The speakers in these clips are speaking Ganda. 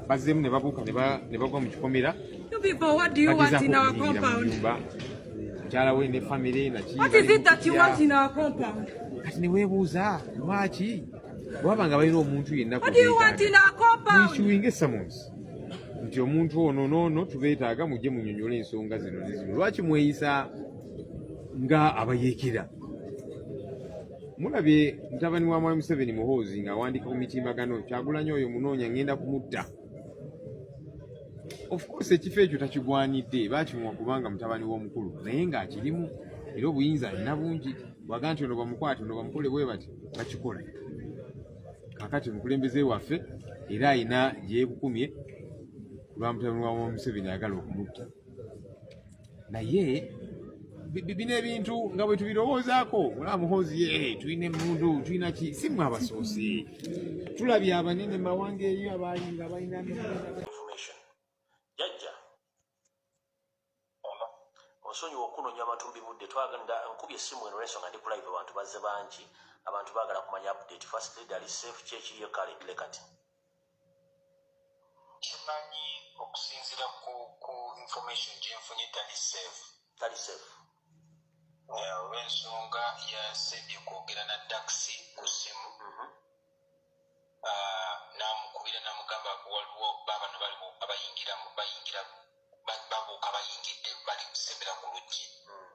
bazzemu ne babuuka ne bagwa mu kikomera mukyala we ne famire nakati ne weebuuza lwaki bwaba nga balina omuntu yenna kuissuing summons nti omuntu ono noono tubeetaaga mujje munyonyola ensonga zino nezino lwaki mweyisa nga abayeekera mulabye mutabani wa mwami museveni muhoozi ng'awandiika ku mitimbagano kyagulanyi oyo munoonya ngenda kumutta ofcourse ekifo ekyo takigwanidde bakimuwa kubanga mutabani w'omukulu naye ng'akirimu era obuyinza alina bungi bwaga nti ono bamukwate ono bamukole bwe bati bakikola kakati omukulembeze waffe era alina gyekukumye kulwa mutabani wa museveni ayagala okumutta naye bino ebintu nga bwe tubirowoozaako olaba muhoozi ye eh, tulina emundu tulina ki si mwe abasoose tulabye abanene mawanga eyo abaali nga balina jajja ono osonyiwa okunonya abantu mubibudde twagenda nkubye essimu eno lwensonga ndi kulive abantu bazze bangi abantu baagala kumanya update first lead ali safe kyekirie kale lekati kimanyi okusinzira ku ku information gyenfunye tali safe tali safe olwensonga yasebye kwogera na taxi ku simu mm-hmm. ah, namukubira namugamba waliwo babano baliwo abayingira bayingira babuuka bayingidde bali kusembera ku luggi mm.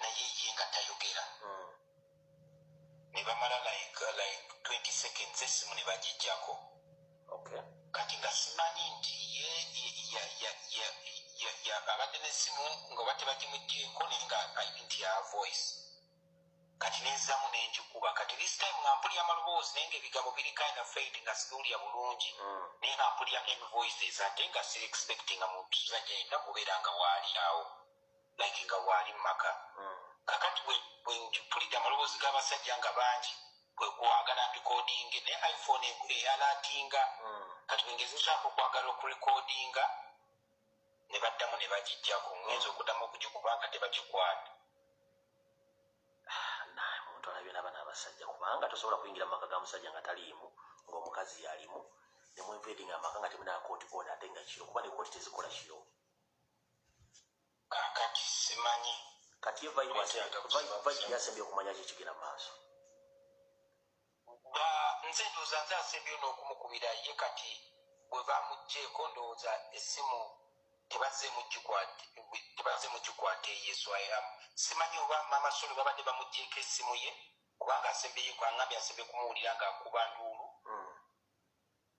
naye ye nga tayogera hmm. ne bamala like like 20 seconds esimu ne bagijjako kati nga simanyi nti ye abadde nesimu nga oba tebagimugyeko naye nga ayini nti ya voice kati nezamu nenjikuba kati this time nga mpulira amaloboozi naye nga ebigambo biri kind of faid nga sibiwulira bulungi hmm. naye nga mpulira invoices ate nga siri expectinga muntu zajaina kubeera nga waali awo like nga waali mumaka mm. kakati bwempulidde amaloboozi g'abasajja nga bangi kwekwagala ndikodinge ne iphone eyalatinga mm. kati bwengezezaako okwagala okurekodinga ne baddamu ne bagijjako ngenza okuddamu okugikuba nga tebagikwata omuntu alabye naba nabasajja kubanga tosobola kuyingira mumaka ga musajja nga taliimu ngaomukazi yalimu nemwenvedinga amaka nga temunakooti ona ate nga kiro kuba nekooti tezikola kiro kakati simanyi kati ye vibe ate vibe vibe yasembye okumanya ki kigera maaso ba nze ndoza nze asembye no kumukubira ye kati bwe bamujje ko ndoza esimu tebaze mujje kwa tebaze mujje kwa te yesu ayam simanyi oba mama solo baba de bamujje ke simu ye kubanga asembye kwa ngambi asembye kumuulira nga kuba ndulu mm.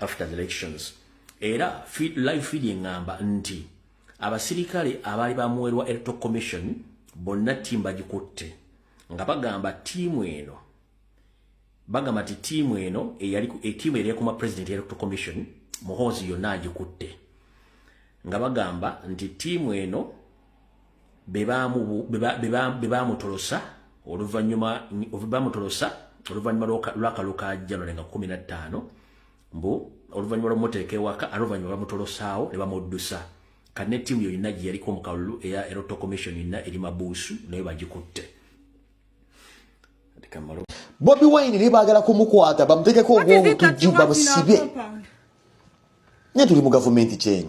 after the elections era feed, live feeding ngamba nti abasirikale abaali bamuwerwa electoral commission bonna ttiimu bagikutte nga bagamba ttiimu eno bagamba nti ttiimu eno ettiimu eri ekuma president electoral commission muhoozi yonna agikutte nga bagamba nti ttiimu eno bebaamutolosa oluvanyuma bamutolosa oluvanyuma lwakalo ka january nga kumi na ttaano mbu oluvanyuma lwomuteeka ewaka ate oluvanyuma bamutolusaawo ne bamuddusa kati ne tiimu yonna gye yaliko mu kalulu eya eroto commission yonna eri mabuusu nayo bagikutte bobi wine naye baagala kumukwata bamutekeko ogwobutujju bamusibe naye tuli mu gavumenti kyeno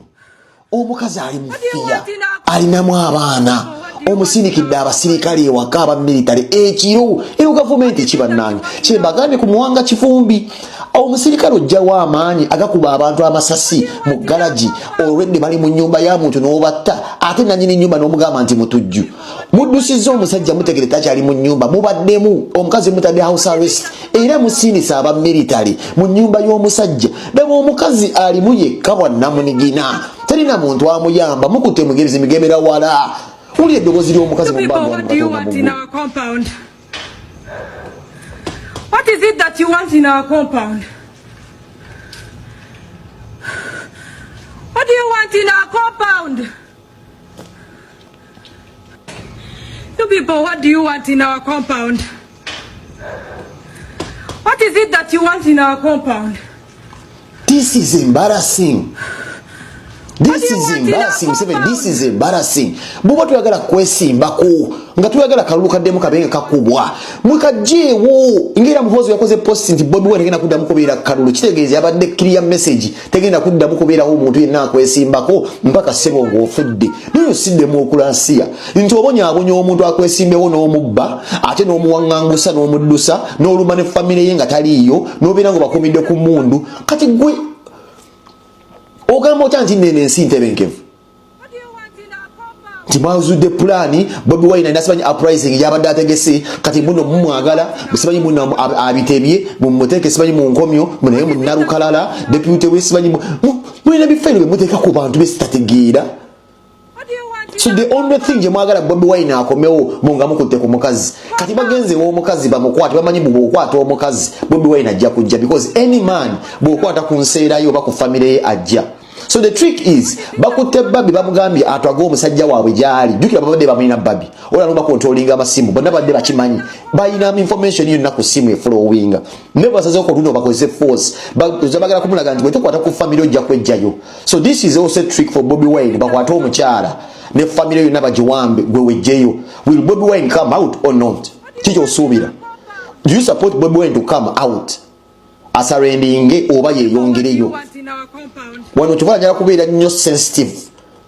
omukazi ali mufiya alinamu abaana omusindikidde abasirikale ewaka aba military ekiro eno gavumenti ekibanange kyembagambye ku muwanga kifumbi omusirikale ojjawo amaanyi agakuba abantu amasasi mu galagi olwedde bali mu nyumba ya muntu n'obatta ate nanyini nyumba n'omugamba nti mutujju muddusizza omusajja mutegere takyali mu nyumba mubaddemu omukazi mutadde house arrest era musindisa aba military mu nyumba y'omusajja daba omukazi alimu yekka bwannamunigina talina muntu amuyamba mukute mugerezi migemera wala uli eddobozi ly'omukazi mu What is it that you want in our compound? What do you want in our compound? You people, what do you want in our compound? What is it that you want in our compound? This is embarrassing. This is embarrassing. Seven, this is embarrassing. Buba tuyagala kwesimba ku nga tuyagala kalulu kaddemu kabenge kakubwa. Mwekajeewo ngera muhozi yakoze post nti Bobi Wine agenda kuddamu kubeera kalulu. Kitegeeza yabadde clear message. tegenda kuddamu kubeerawo omuntu yenna akwesimbako mpaka sebo ngaofudde naye osiddemu okulansiya nti obonyabonya omuntu akwesimbewo n'omubba ate n'omuwaŋŋangusa n'omuddusa n'oluma ne famire ye nga taliiyo n'obeera nga obakumidde ku mundu kati gwe ogamba otya nti nene ensi ntebenkevu nti mwazudde pulaani bobi wine alina simanyi uprising gyabadde ategese kati muno mumwagala simanyi muno abitebye mumuteeke simanyi mu nkomyo munaye munalukalala deputy we simanyi mulina bifayiro byemuteeka ku bantu besitategeera so the only thing gyemwagala bobi wine akomewo munga mukutte ku mukazi kati bagenze womukazi bamukwate bamanyi bwokwata omukazi bobi wine ajja kujja because any man bwokwata ku nseerayo oba ku famire ye ajja so the trick is bakutte babi bamugambye atwage omusajja waabwe gyali jukira babadde bamulina babi olano bakontrolinga amasimu bonna badde bakimanyi balina information yonna ku simu efulowinga ne basaze okotunda bakozese force bagala kumulaga nti bwetukwata ku famiry ojja kwejjayo so this is also trick for bobi wine bakwate omukyala ne famiry yonna bagiwambe gwe wejjeyo will bobi wine come out or not kikyo osuubira do you support bobi wine to come out asarendinge oba yeyongereyo wano kyokola njala kubeera nnyo sensitive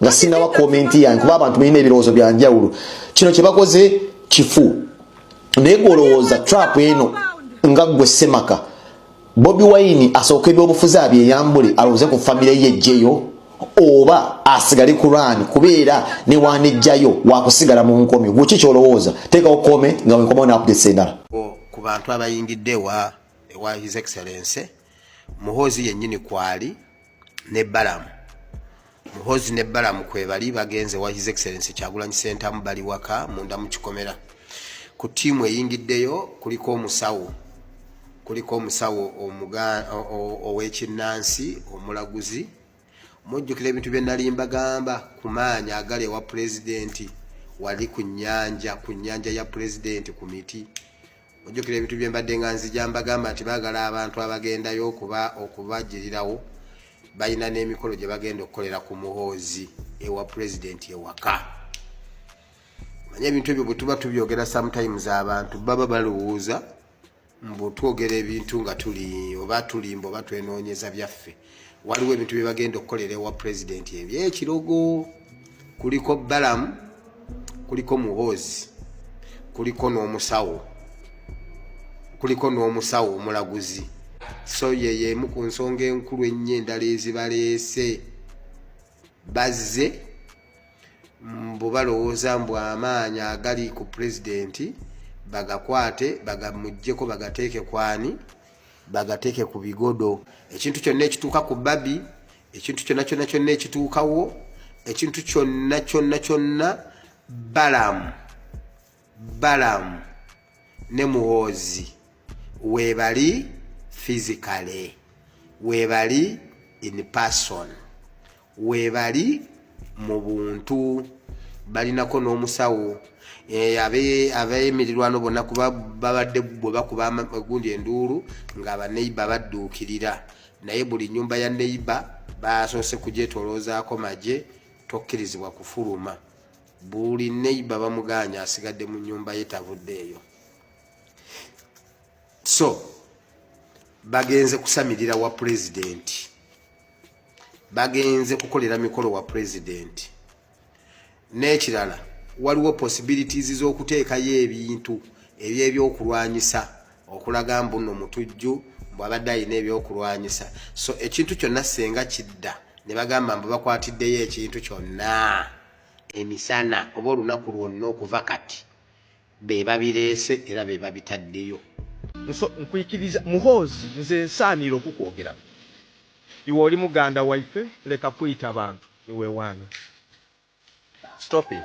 nga sinawa komenti yange kuba abantu balina ebirowoozo bya njawulo kino kye bakoze kifu naye gwolowooza trap eno nga ggwe semaka bobi wayini asooka ebyobufuzi abyeyambule alowooze ku famire ye jjeyo oba asigale kuraani kubeera newanejjayo wakusigala mu nkomyo gweki kyolowooza teekawo kome nga wenkomawo nakugesa endala ku bantu abayingidde ewa ewa his excellence muhoozi yennyini kwali ne balamu muhoozi ne balamu kwebali bagenze wa his excellence kyagulanyi sentamu bali waka munda mu kikomera ku tiimu eyingiddeyo kuliko omusawo kuliko omusawo ow'ekinnansi omulaguzi mujjukira ebintu bye nali mbagamba ku maanyi agali ewa pulezidenti wali ku nnyanja ku nnyanja ya pulezidenti ku miti mujjukira ebintu bye mbadde nga nzija mbagamba nti baagala abantu abagendayo okuba okubagirirawo balina n'emikolo gye bagenda okukolera ku muhoozi ewa pulezidenti ewaka manye ebintu ebyo bwe tuba tubyogera sometimes abantu baba balowooza mbu twogera ebintu nga tuli oba tulimba oba twenoonyeza byaffe waliwo ebintu bye bagenda okukolera ewa pulezidenti ebyo ekirogo kuliko balamu kuliko muhoozi kuliko n'omusawo kuliko n'omusawo omulaguzi so yeyeemu ku nsonga enkulu ennyo endala ezibaleese bazze mbu balowooza mbu amaanyi agali ku pulezidenti bagakwate bagamugjeko bagateeke kwani bagateeke ku bigodo ekintu kyonna ekituuka ku babi ekintu kyonna kyonna kyonna ekituukawo ekintu kyonna kyonna kyonna balamu balamu ne muhoozi webali physically webali in person webali mu buntu balinako n'omusawo eh, abemirirwano bonna kuba babadde bwe bakuba gundi enduulu nga baneiba badduukirira naye buli nyumba ya neiba basoose kujetoloozaako magye tokkirizibwa kufuluma buli neiba bamuganya asigadde mu nyumba ye tavudde eyo so bagenze kusamirira wa pulezidenti bagenze kukolera mikolo wa pulezidenti n'ekirala waliwo possibilities z'okuteekayo ebintu ebyebyokulwanyisa okulaga mbuno mutujju bwabadde alina ebyokulwanyisa so ekintu kyonna senga kidda ne bagamba mbu bakwatiddeyo ekintu kyonna emisana oba olunaku lwonna okuva kati be babireese era be babitaddeyo. Nso nkwikiriza muhoozi nze nsaanira okukwogerako iwe oli muganda waife leka kuyita bantu niwewaana stop it.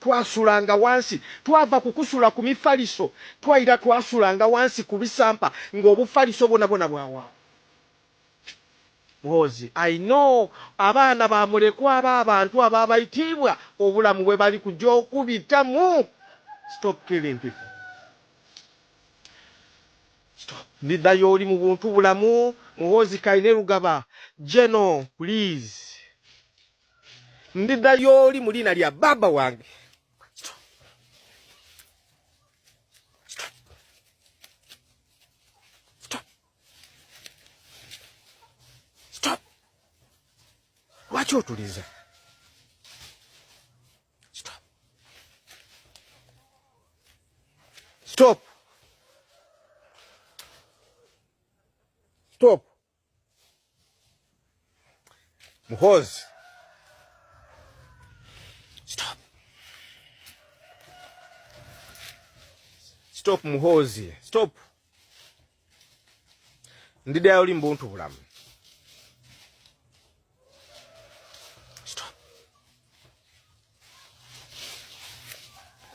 Twasulanga wansi. Twava ku kusula ku mifaliso, twaira twasulanga wansi ku bisampa nga obufaliso bwona bwona bwa wa Muhoozi. I know abaana ba mulekwa ba bantu aba baitiibwa obulamu bwe bali kuja okubita mu stop killing people stop ndidda yooli mu buntu bulamu Muhoozi Kainerugaba General please Ndida yoli mulina lya baba wange. Lwaki otuliza? Stop. Stop. Stop. Muhoozi stop stop Muhoozi stop ndiddayo oli mbuntu bulamu